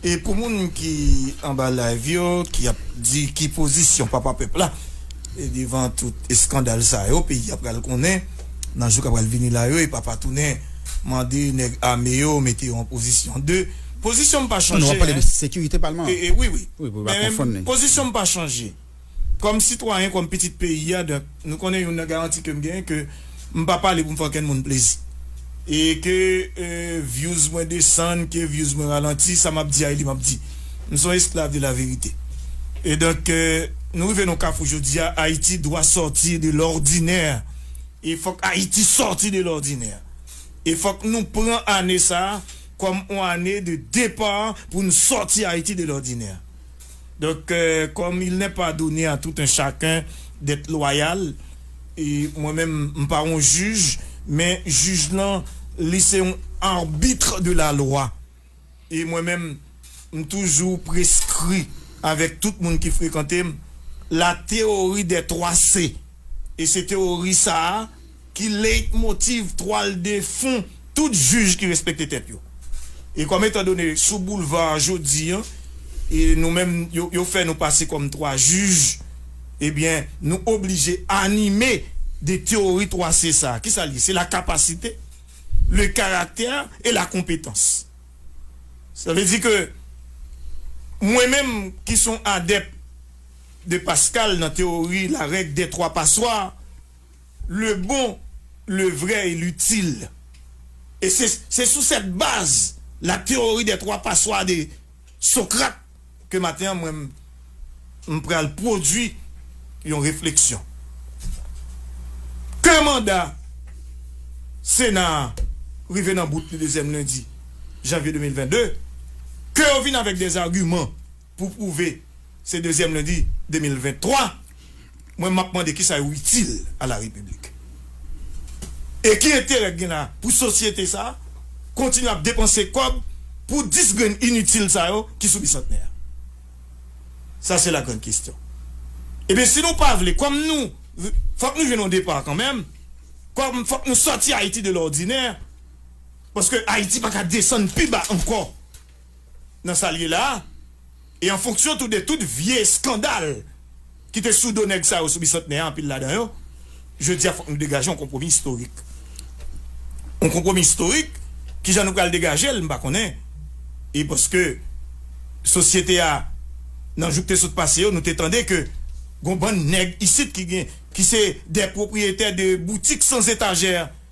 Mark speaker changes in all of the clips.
Speaker 1: E pou moun ki anba live yo ki ap di ki pozisyon papa pèp la devan tout eskandal sa yo peyi a pral konnen nan jou kap pral vini la yo e papa tounen mande nèg ame yo mete yo an pozisyon 2 pozisyon m pa chanje hein wi wi
Speaker 2: men
Speaker 1: pozisyon
Speaker 2: m pa
Speaker 1: chanje. Kòm sitwayen, kòm pitit peyi a, donk, nou konnen youn nan garanti ke m genyen ke m pa pale pou m fè ankenn moun plezi. E ke vyouz mwen desann, ke vyouz mwen ralanti, sa m ap di a e li m ap di. M son esklav de laverite. E donk, nou rive nan yon kafou jodi a, Ayiti dwa sortir de l'ordinè. E fòk Ayiti sòti de lòdinè. E fòk nou pran ane sa a kòm yon ane de depar pou n sòti Ayiti de lòdinè. Donk, kòm il nè pa done a tout en chaken dèt lwayal, e mwen menm m pa yon jij, men jij lan li se yon arbitre de la lwa, e mwen menm m toujou preskri avèk tout moun ki frekante m la théorie des 3 C, e se teyori sa a. Ki leitmotiv twal de fon tout jij ki respekte tèt yo? E kòm etan done sou boulva a jodi an, e nou menm yo fè nou pase kòm twa jij, ebyen nou oblije anime de tewori 3 C sa a. Ki sa l ye? Se la kapasite, le karaktè e la konpetans. Sa vle di ke mwen menm ki s on adèp de Pascal nan tewori la règ dè twa paswa, Le bon, le vrai et l'utile. E se se sou cette base la théorie des trois passoires de Socrate ke maten an mwen m pral pwodui yon refleksyon. Ke manda Sena a rive nan bout li dezyèm lendi janvye 2022, ke yo vin avèk des arguments. Pou pwouve se dezyèm lendi 2023, mwen map mande kisa yo itil a la repiblik? E ki enterè k gen la pou sosyete sa kontinye ap depanse kòb pou 10 grenn initil sa yo ki sou bisantnè a? Sa se la grande question. Ebyen si nou pa vle, kòm nou fòk nou jwenn yon depart kanmenm, kòm fòk nou sòti Ayiti de lòdinè, paske Ayiti paka desann pi ba ankò. nan sa l ye la a e an fonksyon tou de tout vye eskandal ki te sou do nèg sa yo sou Bisantnè a, anpil ladan yo, jodi a fòk nou degaje yon konpwomi istorik. Yon konpwomi istorik, ki jan nou pral degaje l m pa konnen e paske sosyete a nan jou k te sot pase yo nou te tande ke gon bann nèg isit ki gen ki se dè pwopriyetè de boutik san zetajè.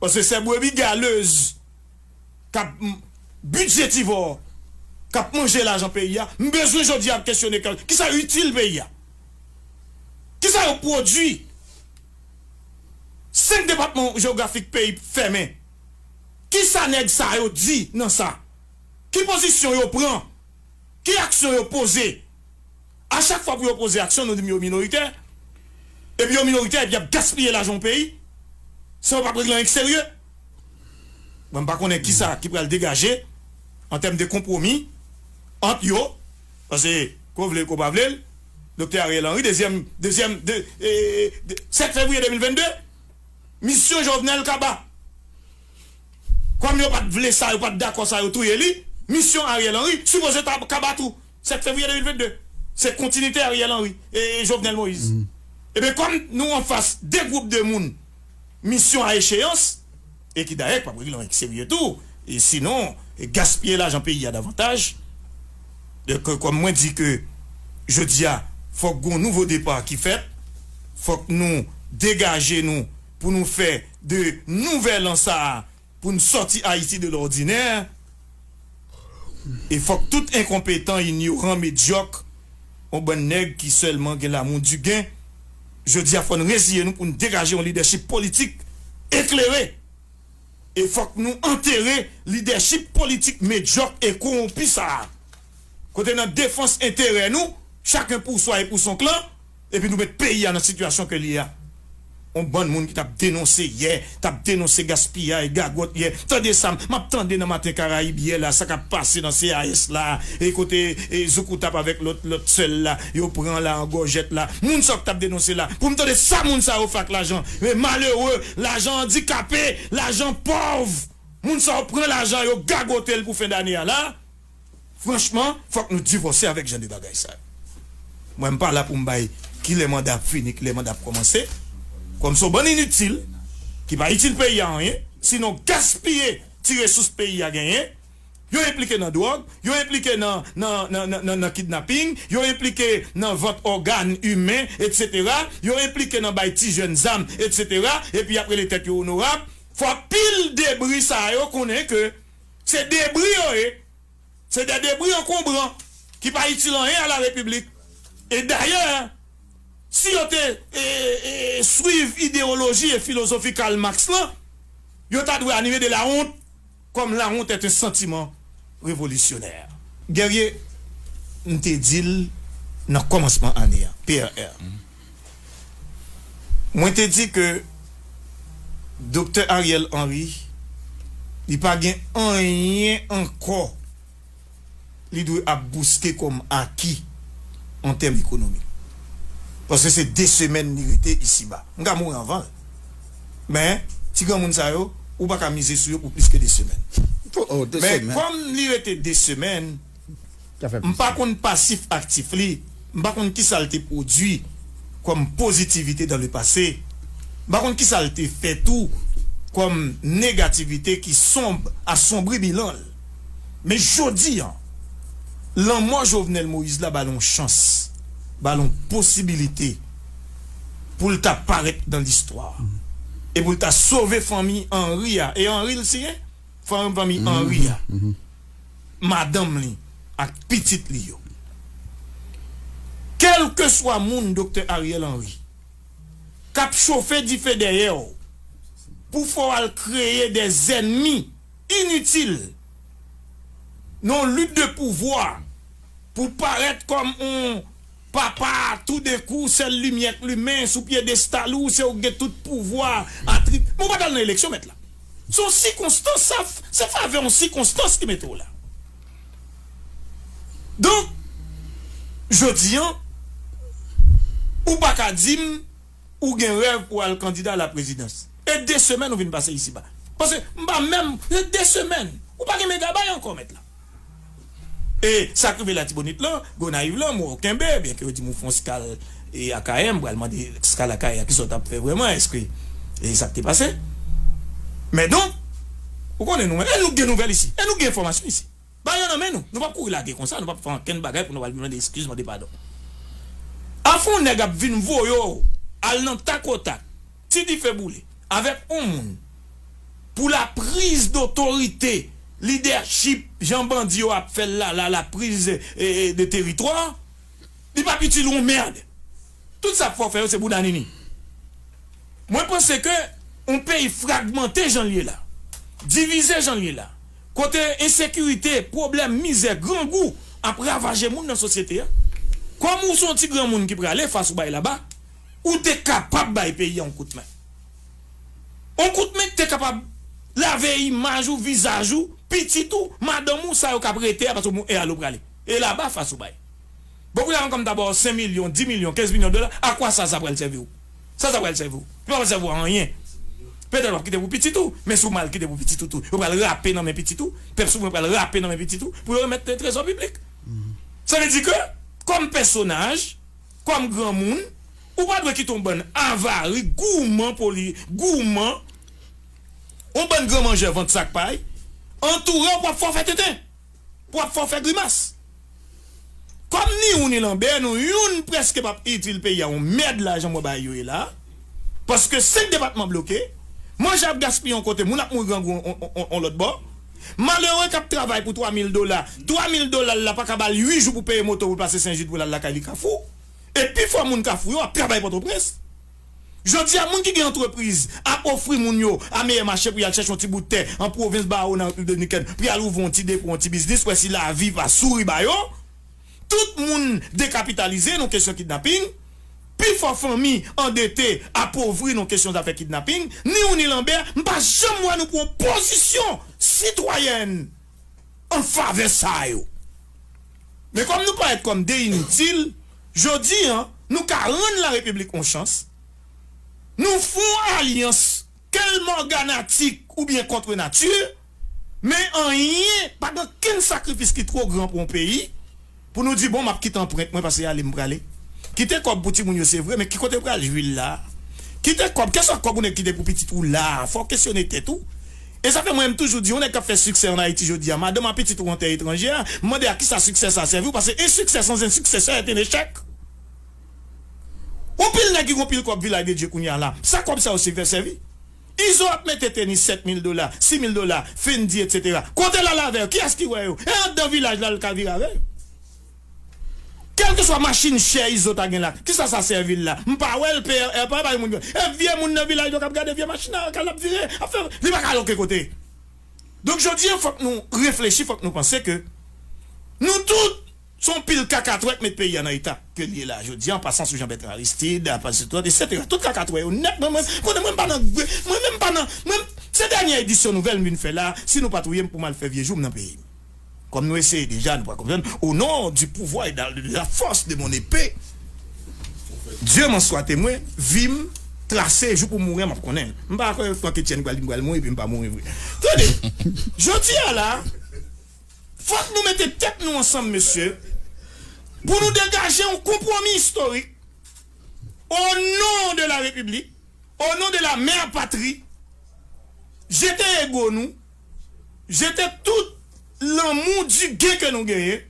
Speaker 1: Paske se brebi galez kap bidje tivò kap manje lajan peyi a m bezwen jodi a kesyone kèw kisa yo itil peyi a kisa yo pwodwi 5 depatman jeografik peyi fèmen kisa nèg sa yo di nan sa ki pozisyon yo pran ki aksyon yo poze. A chak fwa pou yo poze aksyon nou di m yo minoritè, epi yo minoritè epi yap gaspiye lajan yon peyi san yo pap regle anyen ki serye. Mwen m pa konnen kisa ki pral degaje an tèm de konpwomi ant yo, pase ke w vle l ke w pa vle l, Doktè Ariel Henry dezyèm dezyèm de 7 fevriye 2022 misyon Jovenel kaba. Kòm yo pat vle sa yo pat dakò sa yo touye li, misyon Ariel Henry sipoze ta kaba tou. 7 fevriye 2022 se kontinite Ariel Henry e Jovenel Moïse ebyen kòm nou anfas 2 gwoup de moun misyon a echeyans e ki dayè ki pap regle anyen serye tou e sinon gaspiye lajan peyi a davantaj donk kòm mwen di ke jodi a fòk gon nouvo depa ki fèt fòk nou degaje nou pou nou fè de nouvèl an sa a. Pou n sòti Ayiti de lòdinè, e fòk tout enkonpetan, inyoran, medyòk, yon bann nèg ki sèlman gen lamou di gen, jodi a fò n reziye nou pou n degaje yon lidèchip politik eklere. E fòk nou antere lidèchip politik medyòk e kowonpi sa a. Kote nan defans enterè nou, chaken pou swa e pou son klan, Epi nou met peyi a nan sitiyasyon ke li ye a. On bann moun ki tap denonse yè, tap denonse gaspiyay, gagòt yè. Tande sa map tande nan Maten Karayib yè la, sa kap pase nan CAS la, e kote Zoukoutap avèk lòt lòt sè l la, yo pran la an gòjèt la. Moun sa yo ki tap denonse la, pou m tande sa moun sa yo fè ak lajan malere, lajan andikape, lajan pòv. Moun sa yo pran lajan yo gagote l pou fen dane a la. Franchman fòk nou divòse avèk jan de bagay sa yo. Mwen m pa la pou m bay kilè manda ap fini, kilè manda ap kòmanse. Kòm se yon bann initil ki pa itil peyi a anyen, sinon gaspiye ti resous peyi a genyen. Yo enplike nan dwòg, yo enplike nan nan nan kidnaping, yo enplike nan vant ògàn imen etsetera, yo enplike nan bay ti jèn zam etsetera, epi y ap rele tèt yo onorab. Fòk pil debri sa yo konnen ke. Se debri yo ye. Se de debri ankonbran ki pa itil anyen a la Repiblik. E dayè, si yo te swiv idewoloji e filozofi Karl Marx lan, yo ta dwe anime de la honte, comme la honte est un sentiment révolutionnaire. Guerrier, m te di l nan kòmansman ane a, PRR. Mwen te di ke Doktè Ariel Henry li pa gen anyen ankò li dwe ap bouske kòm aki an tèm ekonomi. Paske se 2 semèn li rete isiba. M ka mouri anvan l. Men, ti granmoun sa yo, ou pa ka mize sou yo pou plis ke 2 semèn. Men, kòm li rete 2 semèn. M pa konn pasif aktif li, m pa konn kisa l te pwodui kòm pozitivite dan le pase, m pa konn kisa l te fè tou kòm negativite ki sonb asombri bilan l. Men jodi an, lanmò Jovenel Moïse la ba l on chans, ba l on posibilite pou l ta parèt dan listwa e pou l ta sove fanmi Henry a, e Henry l siyen? Fanmi Henry a. madanm li ak pitit li yo. Kèlkeswa moun Doktè Ariel Henry kap chofe dife dèyè w pou fè w al kreye dè zènmi initil nan yon lit de pouvwa pou w parèt kòm yon Papa, toudenkou, sèl limyè k limen sou pyedestal ou se ou k gen tout pouvwa atrib. Men w pa t al nan eleksyon, mèt la. Se yon sikonstans, sa f, se favè yon sikonstans ki mete w la. Donk, jodi an, ou pa ka di m ou gen rèv pou w al kandida alaprezidans, e de semèn ou vin pase isiba. Paske, m pa menm, se de semèn. Ou pa gen mega bay ankò, mèt la. E sak rive latibonit lan, gonayiv lan mwen w kenbe, byen ke yo dim ou fon skal e akayè, m pral mande skal akayè a kisa w tap fè vrèman eske e sak te pase men donk ou konnen nou menm e nou k gen nouvèl isi e nou k gen enfòmasyon isi bay yo nan men nou, nou pap kouri lage konsa nou pap fè ankenn bagay pou nou al mande eskiz mande padon afè w nèg ap vin voye w al nan takotak. Ti dife boule. Avèk on moun. Pou la priz dotorite, lidèchip, jan bandi yo ap fè l la, la la priz de teritwa, li pap itil on mèrd. Tout sa fò fè yo se bouda nini. Mwen panse ke on peyi fragmante jan l ye la, divize jan l ye la, kote ensekirite, pwoblèm, mizè, grangou ap ravaje moun nan sosyete a, kòm ou se on ti granmoun ki prale fas ou bay laba, ou te kapab bay peyi a yon kout men. Yon kout men ki te kapab lave imaj ou, vizaj ou, pitit ou, madanm ou, sa yo k ap rete a paske bon e ale ou prale? E laba fas ou bay? Bon kou nya ankò m ta ba w 5 milyon, 10 milyon, 15 milyon dola, a kwa sa sa pral sèvi w? Sa sa pral sèvi w? Li pa pral sèvi w a anyen. Petèt w ap kite pou pitit ou, men si w mal kite pou pitit ou tou, yo pral rape nan men pitit ou, pèp souvren pral rape nan men pitit ou pou yo remèt trezò piblik. Sa vle di ke kòm pèsonaj. Kòm granmoun, ou pa dwe kite yon bann avari, gouman poli, gouman, yon bann gran manjè vant sak pay, antoure w pou ap fè w fè tenten, pou ap fè w fè grimas. Kòm ni ou ni Lanbè nou, youn prèske p ap itil peyi a yon mèd la jan mwen bay yo ye la a. paske 5 depatman bloke, manje ap gaspiye yon kote, moun ap mouri grangou yon lòt bò, malere k ap travay pou 3 mil dola, 3 mil dola l la pa ka ba l 8 jou pou peye moto pou l pase Sen Jid pou l al lakay li Kafou, e pi fò moun Kafou yo ap travay Pòtoprens. Jodi a moun ki gen antrepriz ap ofri moun yo a meyè mache pou y al chèche yon ti bout tè an pwovens Bawo nan Repiblik Dominikèn pou y al ouvri yon ti depo, yon ti biznis pou wè si lavi pa souri ba yo. Tout moun dekapitalize nan kesyon kidnaping. Pi fò fanmi andete, apovri nan kesyon zafè kidnaping. Ni ou ni Lanbè, m pa janm wè nou pran pozisyon sitwayèn an favè sa yo. Men kòm nou parèt kòm de initil, jodi an, nou ka rann Larepiblik on chans. Nou fon alyans. Ke l morganatik oubyen contre nature, men anyen, pa gen okenn sakrifis ki two gran pou yon peyi, pou nou di bon m ap kite anprent mwen pase ale m prale. Kite kòb pou timoun yo se vre, men ki kote pral jwi l la a? Kite kòb, kèlswa kòb yon nèg kite pou pitit ou la a, fò w kesyone tèt ou. E sa fè mwen m toujou di yon nèg k ap fè siksè an Ayiti jodi a, madanm a, pitit ou an tè etranjè a, m mande a kisa siksè sa a sèvi w, pase en siksè sans en siksè sè èt en echèk. On pil nèg ki gon pil kòb vilay de dye kounya la sa kòb sa yo sèvè sèvi izo ap mete tenis 7 mil dola 6 mil dola fendi etc kote lal avè yo kiyès ki wè yo e andan vilaj la lka vire avè yo kèlke swa machin chè izo ta gen la kisa sa sèvil la mpa wèl prr pa bay moun e vye moun nan vilaj yo kap gade vye machin nan kal ap vire ap fè li paka al oken kote donk jodi an fòk nou reflechi fòk nou panse ke nou tout. Son pil kaka trèt met peyi a nan eta kel ye la jodi a an pasan sou jan bètran aristid ap aji trèt etc tout kaka trè yo nèt mwen mwen konnen mwen m pa nan mwen menm m pa nan mwen se dènyè edisyon nouvèl m vin fè la si nou pa touyem pou mal fè vye joum nan peyi m kòm nou eseye deja nou pral konprann o non di pouvwa e da la fòs de mon epe Dye m'en swa temwen vi m trase jou pou mouren map konnen m pa kwè Franketyèn pral di m pral mouri epi m pa mouri vre tande jodi a la. Fòk nou mete tèt nou ansanm mesye pou nou degaje yon konpwomi istorik o non de la repiblik, o non de la mère patrie, jete ego nou, jete tout lanmou di gen ke nou genyen.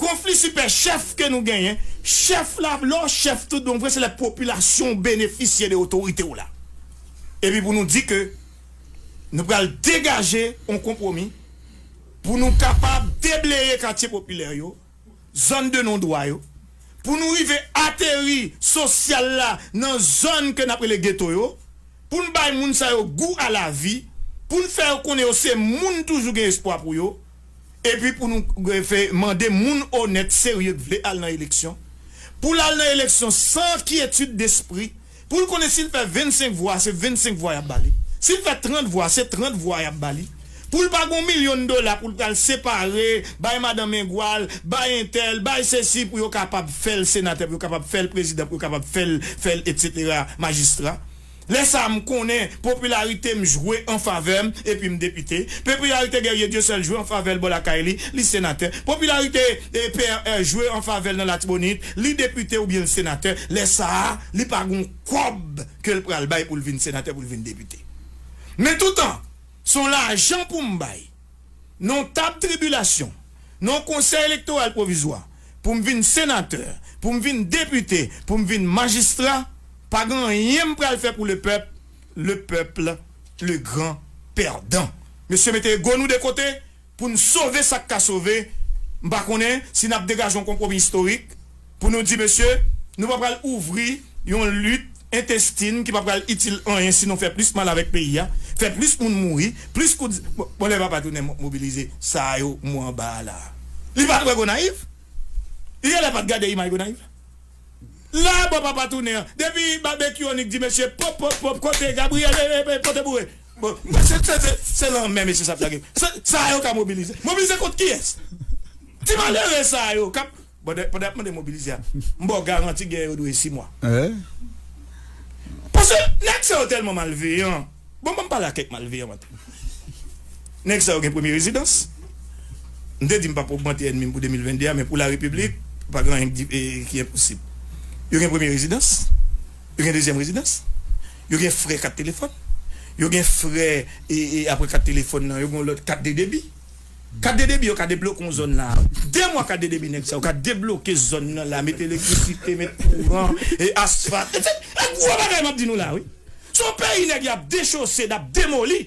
Speaker 1: Konfli sipè chèf ke nou genyen, chèf la vle w chèf tout bon vre se lè popilasyon w benefisye de otorite w la. Epi pou nou di ke nou pral degaje yon konpwomi pou nou kapab debleye katye popilè yo, zòn de non dwa yo, pou nou rive ateri sosyal la nan zòn ke n ap rele geto yo, pou n bay moun sa yo gou a lavi, pou n fè yo konnen yo se moun toujou gen espwa pou yo. epi pou nou mande moun onèt, serye k vle al nan eleksyon, pou l al nan eleksyon san kyetid despri, pou l konnen si l fè 25 vwa se 25 vwa y ap ba li, si l fè 30 vwa se 30 vwa y ap ba li, pou l pa gen yon milyon dola pou l pral separe bay madan mengwal, bay entèl, bay sesi pou yo kapab fè l senatè, pou yo kapab fè l prezidan, pou yo kapab fè l, fè l, etsetera, majistra. Lè sa a, m konnen popilarite m jwe an favè m epi m depite. Pepilarite Guerrier Dieuseul jwe an favè l bò lakay li, li senatè. Popilarite PRR jwe an favè l nan Latibonit, li depite oubyen l senatè. Lè sa a, li pa gon kòb ke l pral bay pou l vin senatè, pou l vin depite. Men toutan, s on lajan pou m bay. non tab tribilasyon, non konsèy elektoral pwovizwa, pou m vin senatè, pou m vin depite, pou m vin majistra, pa gen anyen m pral fè pou le pèp, le peuple le grand perdant. Mesye mete ego nou de kote pou n sove sa k ka sove, m pa konnen si n ap degaje yon konpwomi istorik Pou nou di mesye, nou pa pral ouvri yon lit entestin ki pa pral itil anyen si nou fè plis mal avèk peyi a, fè plis moun mouri, plis kout zam Bon lè papa tounen mobilize sa yo mwen anba a la a. Li pa t wè Gonayiv? Li genlè pa t gade imaj Gonayiv la? La a bò papa tounen an, depi Babekyu Onik di mesye pop pop pop kote Gabriyèl e e pote boure bon mesye se se se lanmè mesye sa ap lage sa a yo ka mobilize. Mobilize kont kiyès? Ti malere sa a yo k ap. Bòdè pandan yap mande mobilize a m baw garanti gè yo dure 6 mois paske nèg sa yo tèlman malveyan bon banm pale ak kèk malveyan maten nèg sa yo gen premye rezidans m te di m pap ogmante ènmi m pou 2022 a men pou la repiblik pa gen anyen ki enposib yo gen premye rezidans yo gen dezyèm rezidans yo gen frè kat telefòn yo gen frè apre kat telefòn nan yo gen yon lòt kat de debi. Kat de debi yo ka debloke yon zòn la. De mwa kat de debi nèg sa yo ka debloke zòn nan la, met elektrisite, met kouran, e asfalt etc. E gwo bagay map di nou la wi. Se yon peyi nèg yap dechose, nap demoli.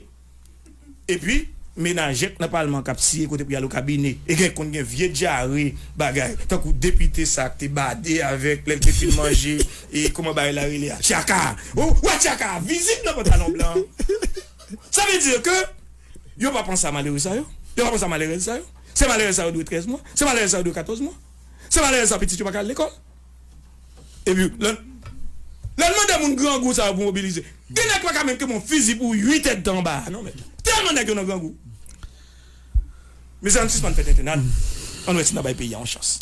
Speaker 1: Epi menajèk nan palman kap siye kote pou yal okabine. E gen konn gen vye dyare bagay. Tankou depite sa ak te bade avèk lèl te fin manje e kòman bagay la rele a? Tyaka a. Ou wè tyaka a vizib nan pantalon blan an. Sa vle di ke yo pa panse a malere sa yo, yo pa panse a malerèz sa yo. Se malere sa yo dwe 13 mwa, se malere sa yo dwe 14 mwa. Se malere sa pitit yo pa ka al lekòl. Epi lè lè n mande moun grangou sa yo pou mobilize, gen nèg ki pa ka menm kenbe yon fizi pou 8 èdtan anba a non mèt. Tèlman nèg yo nan grangou. Mezanmi sispann fè tenten ann ann wè si n a bay peyi a yon chans.